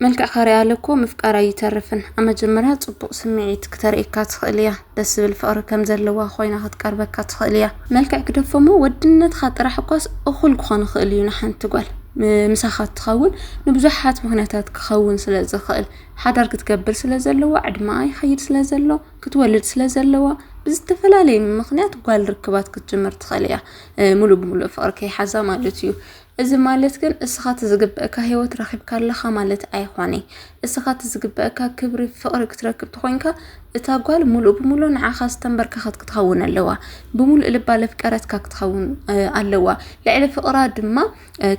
መልክዕ ካርያለ እኮ ምፍቃር ኣይተርፍን ኣብ መጀመርያ ጽቡቅ ስምዒት ክተርእየካ ትኽእል እያ ደስ ዝብል ፍቅሪ ከም ዘለዋ ኮይና ክትቀርበካ ትኽእል እያ መልክዕ ግደፎ እሞ ወድነትካ ጥራሕ እኳስ እኹል ክኾን ይኽእል እዩ ንሓንቲ ጓል ምሳኻ እትኸውን ንብዙሓት ምኽንያታት ክኸውን ስለ ዝኽእል ሓዳር ክትገብር ስለ ዘለዋ ዕድመኣ ይኸይድ ስለ ዘሎ ክትወልድ ስለ ዘለዋ ብዝተፈላለየ ምኽንያት ጓል ርክባት ክትጅምር ትኽእል እያ ሙሉእ ብሙሉእ ፍቅሪ ከይሓዛ ማለት እዩ እዚ ማለት ግን እስኻ እቲ ዝግበእካ ሂወት ረኺብካ ኣለኻ ማለት ኣይኾነይ። እስኻ እቲ ዝግበእካ ክብሪ ፍቕሪ ክትረክብ ተኾይንካ እታ ጓል ሙሉእ ብሙሉእ ንዓኻ ዝተንበርከኸት ክትኸውን ኣለዋ። ብሙሉእ ልባ ለፍቀረትካ ክትኸውን ኣለዋ። ልዕሊ ፍቕራ ድማ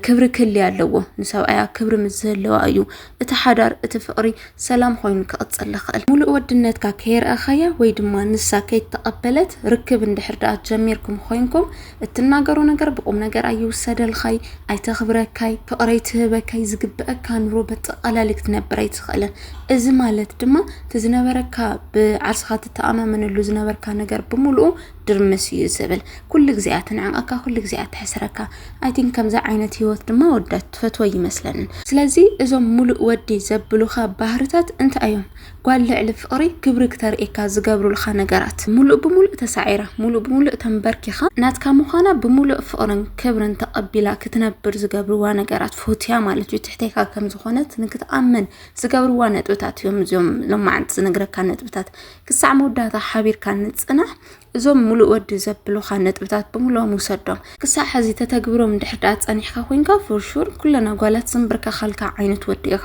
ክብሪ ክህልያ ኣለዎ። ንሰብኣያ ክብሪ ምስ ዝህልዋ እዩ። እቲ ሓዳር እቲ ፍቕሪ ሰላም ኮይኑ ክቕፅል ዝኽእል ሙሉእ ወድነትካ ከየርኣኻያ ወይ ድማ ንሳ ከይተቐበለት ርክብ እንድሕር ድኣ ጀሚርኩም ኮይንኩም እትናገሮ ነገር ብቁም ነገር ኣይውሰደልኻይ ኣይተኽብረካይ ፍቕሪ ኣይትህበካይ ዝግበአካ ኑሮ በጠቓላሊ ክትነብር ኣይትኽእልን እዚ ማለት ድማ እቲ ዝነበረካ ብዓርስኻ ትተኣማመነሉ ዝነበርካ ነገር ብምሉኡ ድርምስ እዩ ዝብል ኩሉ ግዜ እያ ትንዕቀካ ኩሉ ግዜ እያ ትሕስረካ ኣይ ቲንክ ከምዚ ዓይነት ሂወት ድማ ወዳ ትፈትወ ይመስለንን ስለዚ እዞም ሙሉእ ወዲ ዘብሉካ ባህርታት እንታይ እዮም ጓል ልዕሊ ፍቅሪ ክብሪ ክተርእየካ ዝገብሩልካ ነገራት ሙሉእ ብሙሉእ ተሳዒራ ሙሉእ ብሙሉእ ተንበርኪኻ ናትካ ምዃና ብሙሉእ ፍቅርን ክብርን ተቀቢላ ክትነብር ዝገብርዋ ነገራት ፎትያ ማለት እዩ ትሕቴካ ከምዝኾነት ንክትኣምን ዝገብርዋ ነጥብታት እዮም እዚኦም ሎማዓንቲ ዝነግረካ ነጥብታት ክሳዕ መወዳእታ ሓቢርካ ንፅናሕ እዞም ሙሉእ ወዲ ዘብሉኻ ነጥብታት ብምሎም ውሰዶም ክሳዕ ሕዚ ተተግብሮም እንድሕር ድኣ ፀኒሕካ ኮንካ ፎርሹር ኩለን ኣጓላት ዝንብርከኻልካ ዓይነት ወዲ ኢኻ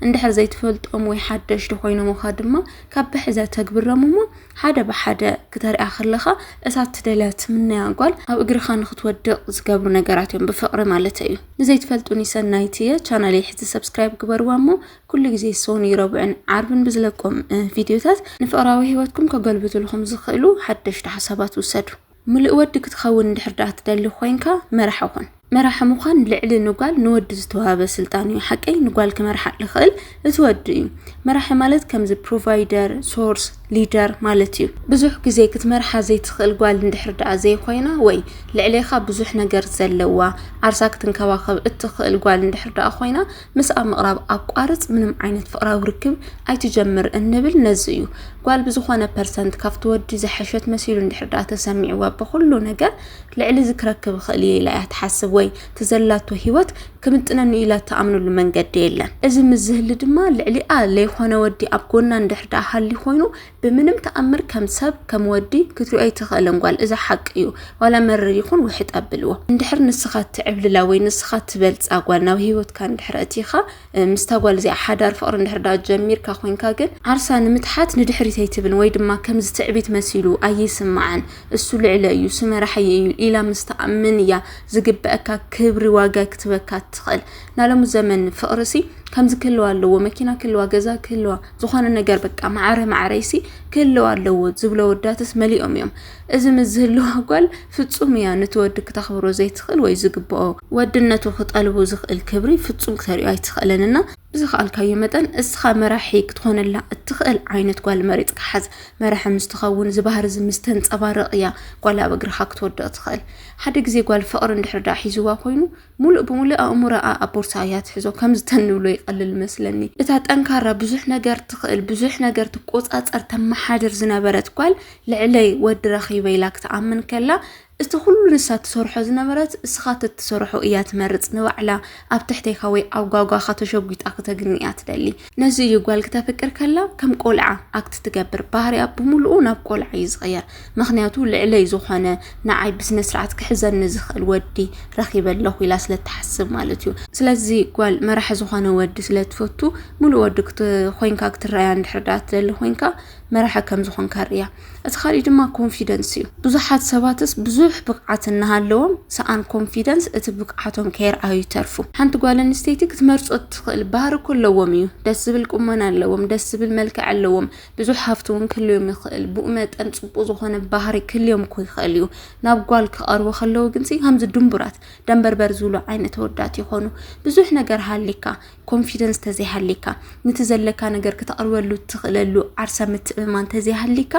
እንድሕር ዘይትፈልጦም ወይ ሓደሽቲ ኮይኖምኻ ድማ ካብ ብሕዘ ተግብሮም እሞ ሓደ ብሓደ ክተሪኣ ከለኻ እሳ ትደልያ ትምነያ ጓል ኣብ እግርኻ ንክትወድቕ ዝገብሩ ነገራት እዮም ብፍቕሪ ማለት እዩ ንዘይትፈልጡኒ ሰናይት እየ ቻናለይ ሕዚ ሰብስክራይብ ግበርዋ እሞ ኩሉ ግዜ ሶኒ ረቡዕን ዓርብን ብዝለቆም ቪድዮታት ንፍቕራዊ ህይወትኩም ከገልብትልኹም ዝኽእሉ ሓደሽቲ ሓሳባት ውሰዱ። ምሉእ ወዲ ክትኸውን እንድሕር ደኣ ትደሊ ኮይንካ መራሒ ኩን። መራሒ ምዃን ልዕሊ ንጓል ንወዲ ዝተዋህበ ስልጣን እዩ። ሓቀይ ንጓል ክመርሓ ልኽእል እቲ ወዲ እዩ። መራሒ ማለት ከምዚ ፕሮቫይደር፣ ሶርስ፣ ሊደር ማለት እዩ። ብዙሕ ግዜ ክትመርሓ ዘይትኽእል ጓል እንድሕር ደኣ ዘይኮይና ወይ ልዕሌኻ ብዙሕ ነገር ዘለዋ ዓርሳ ክትንከባኸብ እትኽእል ጓል እንድሕር ደኣ ኮይና ምስ ኣብ ምቕራብ ኣቋርጽ ምንም ዓይነት ፍቕራዊ ርክብ ኣይትጀምር እንብል ነዚ እዩ። ጓል ብዝኾነ ፐርሰንት ካብቲ ወዲ ዝሐሸት መሲሉ እንድሕር ደኣ ተሰሚዕዋ ብኹሉ ነገር ልዕሊ እዚ ክረክብ እኽእል እየ ኢላ እያ ትሓስብ ወይ ትዘላቶ ህይወት ክምጥነኒ ኢላ እትኣምነሉ መንገዲ የለን። እዚ ምስ ዝህሊ ድማ ልዕሊኣ ለይኾነ ወዲ ኣብ ጎና እንድሕር ደኣ ሃልዩ ኮይኑ ብምንም ተኣምር ከም ሰብ ከም ወዲ ክትሪኦ ኣይትኽእልን ጓል እዛ ሓቂ እዩ ዋላ መርር ይኹን ውሕጥ ኣብልዎ እንድሕር ንስኻ ትዕብልላ ወይ ንስኻ ትበልፃ ጓል ናብ ሂወትካ እንድሕር ኣእቲኻ ምስታ ጓል እዚኣ ሓዳር ፍቕሪ እንድሕር ዳ ጀሚርካ ኮንካ ግን ዓርሳ ንምትሓት ንድሕሪት ኣይትብልን ወይ ድማ ከምዚ ትዕቢት መሲሉ ኣይስማዕን እሱ ልዕለ እዩ ስመራሕየ እዩ ኢላ ምስ ተኣምን እያ ዝግበአካ ክብሪ ዋጋ ክትበካ ትኽእል ናለሙ ዘመን ፍቕርሲ ከምዚ ክህልዋ ኣለዎ መኪና ክህልዋ ገዛ ክህልዋ ዝኾነ ነገር በቃ ማዕረ ማዕረይሲ ክህልው ኣለዎ ዝብሎ ወዳትስ መሊኦም እዮም። እዚ ምስ ዝህልዋ ጓል ፍጹም እያ ነቲ ወዲ ክተኽብሮ ዘይትኽእል ወይ ዝግብኦ ወድነቱ ክጠልቡ ዝኽእል ክብሪ ፍጹም ክተርእዮ ኣይትኽእልን እና ብዝኸኣልካዮ መጠን እስኻ መራሒ ክትኾነላ እትኽእል ዓይነት ጓል መሪፅካ ሓዝ። መራሒ ምስ ትኸውን እዚ ባህሪ እዚ ምስ ተንፀባረቕ እያ ጓል ኣብ እግርኻ ክትወድቕ ትኽእል። ሓደ ግዜ ጓል ፍቕሪ እንድሕር ደኣ ሒዝዋ ኮይኑ ሙሉእ ብሙሉእ ኣእምሮኣ ኣብ ቦርሳ እያ ትሕዞ ከምዚ ተንብሎ ይቀልል መስለኒ እታ ጠንካራ ብዙሕ ነገር ትኽእል ብዙሕ ነገር ትቆጻጸር ተመሓድር ዝነበረት ጓል ልዕለይ ወዲ ረኺበ ኢላ ክትኣምን ከላ እቲ ኩሉ ንሳ ትሰርሖ ዝነበረት እስኻ ተትሰርሖ እያ ትመርጽ ንባዕላ ኣብ ትሕቴካ ወይ ኣብ ጓጓኻ ተሸጒጣ ክተግኒ እያ ትደሊ ነዚ እዩ ጓል ክተፍቅር ከላ ከም ቆልዓ ኣክት ትገብር ባህሪያ ብምልኡ ናብ ቆልዓ እዩ ዝቕየር ምክንያቱ ልዕለይ ዝኾነ ንዓይ ብስነ ስርዓት ክሕዘኒ ዝኽእል ወዲ ረኺበ ኣለኹ ኢላ ስለትሓስብ ማለት እዩ ስለዚ ጓል መራሒ ዝኾነ ወዲ ስለትፈቱ ሙሉእ ወዲ ኮይንካ ክትረኣያ እንድሕር ደኣ ትደሊ ኮይንካ መራሒ ከም ዝኾንካ ርእያ እቲ ካልእ ድማ ኮንፊደንስ እዩ። ብዙሓት ሰባትስ ብዙሕ ብቕዓት እናሃለዎም ሰኣን ኮንፊደንስ እቲ ብቕዓቶም ከየርኣዩ ይተርፉ። ሓንቲ ጓል ኣንስተይቲ ክትመርጾ እትኽእል ባህሪ እኮ ኣለዎም እዩ። ደስ ዝብል ቁመና ኣለዎም፣ ደስ ዝብል መልክዕ ኣለዎም፣ ብዙሕ ሃፍቲ እውን ክህልዮም ይኽእል። ብኡ መጠን ጽቡቕ ዝኾነ ባህሪ ክህልዮም እኮ ይኽእል እዩ። ናብ ጓል ክቐርቡ ከለዉ ግንሲ ከምዚ ድንቡራት ደንበርበር ዝብሉ ዓይነት ኣወዳት ይኾኑ። ብዙሕ ነገር ሃሊካ ኮንፊደንስ ተዘይሃሊካ ንቲ ዘለካ ነገር ክተቕርበሉ ትኽእለሉ ዓርሰ ምትእምማን ተዘይሃሊካ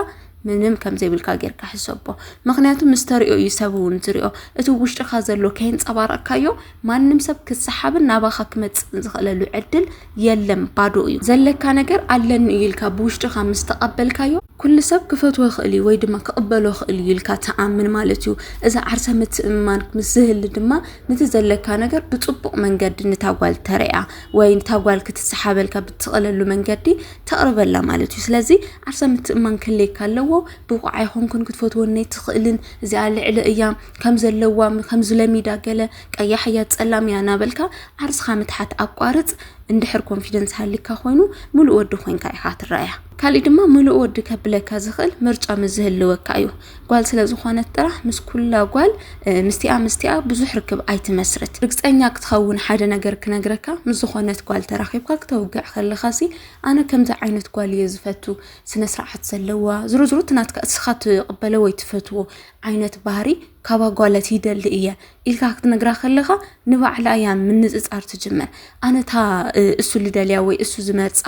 ምንም ከም ዘይብልካ ጌርካ ሕሰቦ። ምክንያቱ ምስ ተሪኦ እዩ ሰብ እውን ዝሪኦ እቲ ውሽጥካ ዘሎ ከየንጸባረቕካዮ ማንም ሰብ ክሰሓብን ናባኻ ክመጽእን ዝኽእለሉ ዕድል የለን፣ ባዶ እዩ። ዘለካ ነገር ኣለኒ እዩ ኢልካ ብውሽጥካ ምስ ተቐበልካዮ ኩሉ ሰብ ክፈትዎ ይኽእል እዩ ወይ ድማ ክቕበሎ ይኽእል እዩ ኢልካ ትኣምን ማለት እዩ። እዚ ዓርሰ ምትእምማን ምስ ዝህሊ ድማ ነቲ ዘለካ ነገር ብፅቡቕ መንገዲ ነታ ጓል ተረያ ወይ ነታ ጓል ክትሰሓበልካ ብትኽእለሉ መንገዲ ተቕርበላ ማለት እዩ ስለዚ ዓርሰ ምትእማን ክህልየካ ኣለዎ ብቑዕ ኣይኮንኩን ክትፈትወኒ ኣይትኽእልን እዚኣ ልዕሊ እያ ከም ዘለዋ ከም ዝለሚዳ ገለ ቀያሕ እያ ፀላም እያ እናበልካ ዓርስኻ ምትሓት ኣቋርፅ እንድሕር ኮንፊደንስ ሃሊካ ኮይኑ ምሉእ ወዲ ኮንካ ኢኻ ትረኣያ ካሊእ ድማ ምሉእ ወዲ ከብለካ ዝኽእል ምርጫ ምዝህልወካ እዩ ጓል ስለ ዝኾነት ጥራሕ ምስ ኩላ ጓል ምስቲኣ ምስቲኣ ብዙሕ ርክብ ኣይትመስርት። ርግፀኛ ክትኸውን ሓደ ነገር ክነግረካ፣ ምስ ዝኾነት ጓል ተራኺብካ ክተውግዕ ከለኻ ሲ ኣነ ከምዚ ዓይነት ጓል እየ ዝፈቱ፣ ስነ ስርዓት ዘለዋ ዝርዝሩ እቲ ናትካ እስኻ ትቕበለ ወይ ትፈትዎ ዓይነት ባህሪ ካባ ጓለት ይደሊ እየ። ኢልካ ክትነግራ ከለኻ ንባዕላ እያ ምንፅፃር ትጅምር ኣነ እታ እሱ ልደልያ ወይ እሱ ዝመርፃ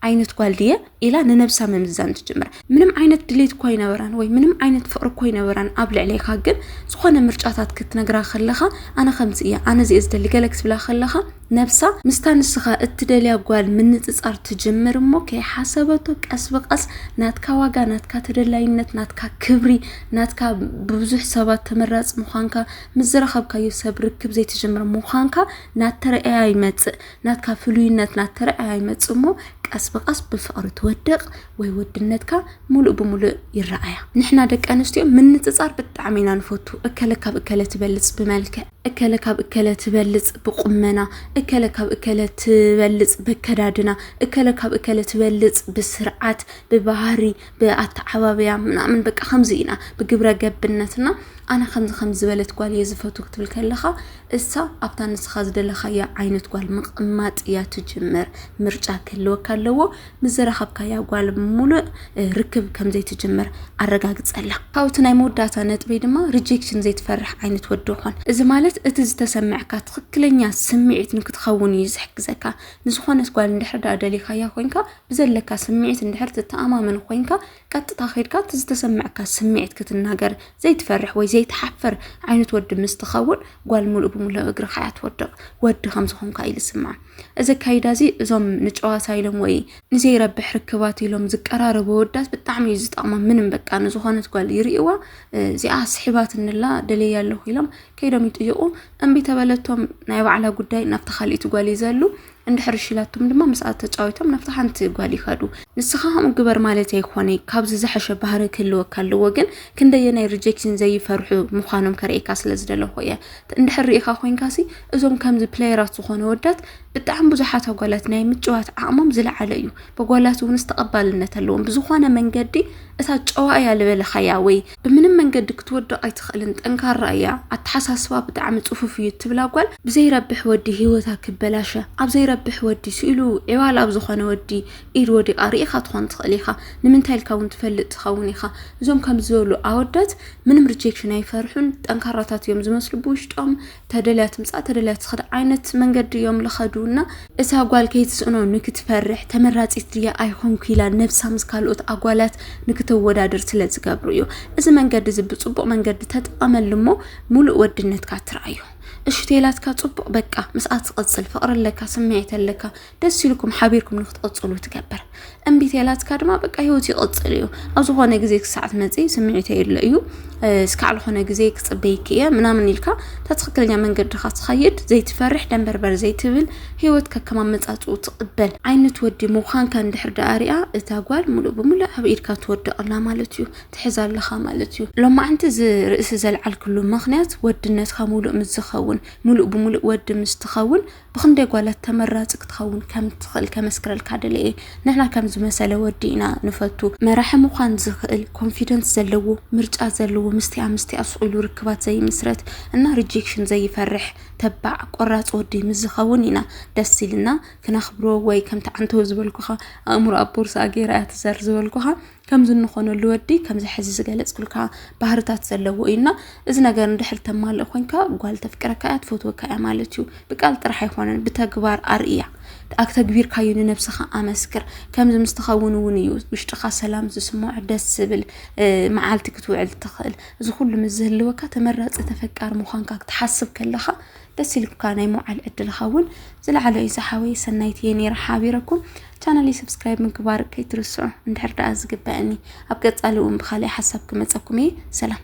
ዓይነት ጓል ድየ ኢላ ንነብሳ ምምዛን ትጅምር ምንም ዓይነት ድሌት እኳ ይነበራን ወይ ምንም ዓይነት ፍቅሪ እኳ ይነበራን ኣብ ልዕሌካ ግን ዝኾነ ምርጫታት ክትነግራ ከለኻ ኣነ ከምዚ እያ ኣነ እዚየ ዝደሊ ገለ ክትብላ ከለኻ ነብሳ ምስታ ንስኻ እትደልያ ጓል ምንጽጻር ትጅምር እሞ ከይሓሰበቶ ቀስ ብቀስ ናትካ ዋጋ ናትካ ተደላይነት ናትካ ክብሪ ናትካ ብብዙሕ ሰባት ተመራጽ ምዃንካ ምስ ዝረኸብካዮ ሰብ ርክብ ዘይትጅምር ምዃንካ ናተረኣያ ይመጽእ ናትካ ፍሉይነት ናተረኣያ ይመጽእ እሞ ቀስ ብቀስ ብፍቕሪ ትወድቕ ወይ ወድነትካ ሙሉእ ብሙሉእ ይረኣያ ንሕና ደቂ ኣንስትዮ ምንፅፃር ብጣዕሚ ኢና ንፈቱ እከለ ካብ እከለ ትበልፅ ብመልክዕ እከለ ካብ እከለ ትበልጽ ብቁመና፣ እከለ ካብ እከለ ትበልጽ በከዳድና፣ እከለ ካብ እከለ ትበልጽ ብስርዓት፣ ብባህሪ፣ ብኣተዓባብያ ምናምን በቃ ከምዚ ኢና ብግብረ ገብነትና ኣነ ከምዚ ከም ዝበለት ጓል እየ ዝፈቱ ክትብል ከለኻ እሳ ኣብታ ንስኻ ዝደለኻያ ዓይነት ጓል ምቕማጥ እያ ትጅምር። ምርጫ ክህልወካ ኣለዎ። ምስ ዝረኸብካያ ጓል ሙሉእ ርክብ ከም ዘይትጅምር ኣረጋግጸላ። ካብኡ እቲ ናይ መወዳእታ ነጥበይ ድማ ሪጀክሽን ዘይትፈርሕ ዓይነት ወዲ ኾን። እዚ ማለት እቲ ዝተሰምዐካ ትኽክለኛ ስምዒት ንክትኸውን እዩ ዝሕግዘካ። ንዝኾነት ጓል እንድሕር ደኣ ደሊኻያ ኮይንካ ብዘለካ ስምዒት እንድሕር ትተኣማመን ኮይንካ ቀጥታ ከይድካ እቲ ዝተሰምዐካ ስምዒት ክትናገር ዘይትፈርሕ ወይ ዘይትሓፍር ዓይነት ወዲ ምስ ትኸውን ጓል ሙሉእ ብሙሉእ ኣብ እግርኻ እያ ትወድቕ። ወዲ ከም ዝኾንካ እዩ ዝስምዓ። እዚ ኣካይዳ እዚ እዞም ንጨዋታ ኢሎም ወይ ንዘይረብሕ ርክባት ኢሎም ዝቀራረቡ ወዳት ብጣዕሚ እዩ ዝጠቕሞም። ምንም በቃ ንዝኾነት ጓል ይርእዋ እዚኣ ስሒባትንላ ደለያ ኣለኹ ኢሎም ከይዶም ይጥይቑ። እምቢ ተበለቶም ናይ ባዕላ ጉዳይ ናብታ ካልኢት ጓል ይዘሉ። እንድሕር እሺ ኢላቶም ድማ ምስኣ ተጫዊቶም ናብታ ሓንቲ ጓል ይኸዱ። ንስኻ ከምኡ ግበር ማለት ኣይኮነ ካብዚ ዝሐሸ ባህሪ ክህልወካ ኣለዎ። ግን ክንደየናይ ሪጀክሽን ዘይፈርሑ ምዃኖም ከርእየካ ስለ ዝደለኹ እየ። እንድሕር ርኢኻ ኮይንካሲ እዞም ከምዚ ፕለየራት ዝኾኑ ወዳት ብጣዕሚ ብዙሓት ኣጓላት ናይ ምጭዋት ዓቕሞም ዝለዓለ እዩ በጓላት እውንስ ተቐባልነት ኣለዎም ብዝኾነ መንገዲ እታ ጨዋ እያ ዝበለኻያ ወይ ብምንም መንገዲ ክትወድቕ ኣይትኽእልን ጠንካራ እያ ኣተሓሳስባ ብጣዕሚ ፅፉፍ እዩ እትብላ ጓል ብዘይረብሕ ወዲ ሂወታ ክበላሸ ኣብ ዘይረብሕ ወዲ ስኢሉ ዒዋል ኣብ ዝኾነ ወዲ ኢድ ወዲቓ ርኢኻ ትኾን ትኽእል ኢኻ ንምንታይ ኢልካ እውን ትፈልጥ ትኸውን ኢኻ። እዞም ከምዚ ዝበሉ ኣወዳት ምንም ሪጀክሽን ኣይፈርሑን ጠንካራታት እዮም ዝመስሉ ብውሽጦም ተደልያ ትምፃእ ተደልያ ትኽድ ዓይነት መንገዲ እዮም ልኸዱ እና እዛ ጓል ከይትስእኖ ንክትፈርሕ ተመራፂት ድያ ኣይኾንኩ ኢላ ነብሳ ምስ ካልኦት ኣጓላት ንክተወዳድር ስለ ዝገብሩ እዩ። እዚ መንገዲ እዚ ብፅቡቕ መንገዲ ተጠቐመሉ እሞ ሙሉእ ወድነትካ ትርኣዮ። እሹ ቴላትካ ጽቡቅ በቃ ምስኣ ትቅጽል ፍቅሪ ኣለካ ስምዒት ኣለካ ደስ ኢልኩም ሓቢርኩም ንክትቕፅሉ ትገብር እምቢት የላትካ ድማ በቃ ሂወት ይቕፅል እዩ ኣብ ዝኾነ ግዜ ክሳዕ ትመፂ ስምዒት የለ እዩ እስካዕ ዝኾነ ግዜ ክፅበይክ እየ ምናምን ኢልካ እታ ትኽክለኛ መንገድኻ ትኸይድ ዘይትፈርሕ ደንበርበር ዘይትብል ሂወት ከከማመፃፅኡ ትቕበል ዓይነት ወዲ ምዃንካ እንድሕር ደኣ ሪኣ እታ ጓል ሙሉእ ብሙሉእ ኣብ ኢድካ ትወድቐላ ማለት እዩ ትሕዛ ኣለኻ ማለት እዩ ሎማዕንቲ እዚ ርእሲ ዘልዓልክሉ ምክንያት ወድነትካ ሙሉእ ምስ ዝኸውን ሙሉእ ብሙሉእ ወዲ ምስ ትኸውን ብክንደይ ጓላት ተመራፂ ክትኸውን ከም እትኽእል ከመስክረልካ ደለየ ንሕና ከም ዝመሰለ ወዲ ኢና ንፈቱ መራሒ ምዃን ዝኽእል ኮንፊደንስ ዘለዎ ምርጫ ዘለዎ ምስቲኣ ምስቲኣ ስኢሉ ርክባት ዘይምስረት እና ሪጀክሽን ዘይፈርሕ ተባዕ ቆራፅ ወዲ ምስ ዝኸውን ኢና ደስ ኢልና ክነኽብሮ ወይ ከምቲ ዓንተው ዝበልኩኻ ኣእምሮ ኣብ ቦርሳ ገይራ እያ ትዘር ዝበልኩኻ ከምዚ እንኾነሉ ወዲ ከምዚ ሕዚ ዝገለጽኩልካ ባህርታት ዘለዎ እዩና እዚ ነገር እንድሕር ተማልእ ኮንካ ጓል ተፍቅረካ እያ ትፈትወካ እያ ማለት እዩ። ብቃል ጥራሕ ኣይኮነን ብተግባር ኣርእያ ኣክተግቢርካዩ ንነብስኻ ኣመስክር ከምዚ ምስ ትኸውን እውን እዩ ውሽጥኻ ሰላም ዝስምዖ ደስ ዝብል መዓልቲ ክትውዕል ትኽእል እዚ ኩሉ ምስ ዝህልወካ ተመራጺ ተፈቃሪ ምዃንካ ክትሓስብ ከለኻ ደስ ኢልካ ናይ ምውዓል ዕድልኻ እውን ዝለዓለ እዩ ዝሓወይ ሰናይት እየ ነይረ ሓቢረኩም ቻናለይ ሰብስክራይብ ምግባር ከይትርስዑ እንድሕር ደኣ ዝግበአኒ ኣብ ቀፃሊ እውን ብካልእ ሓሳብ ክመፀኩም እየ ሰላም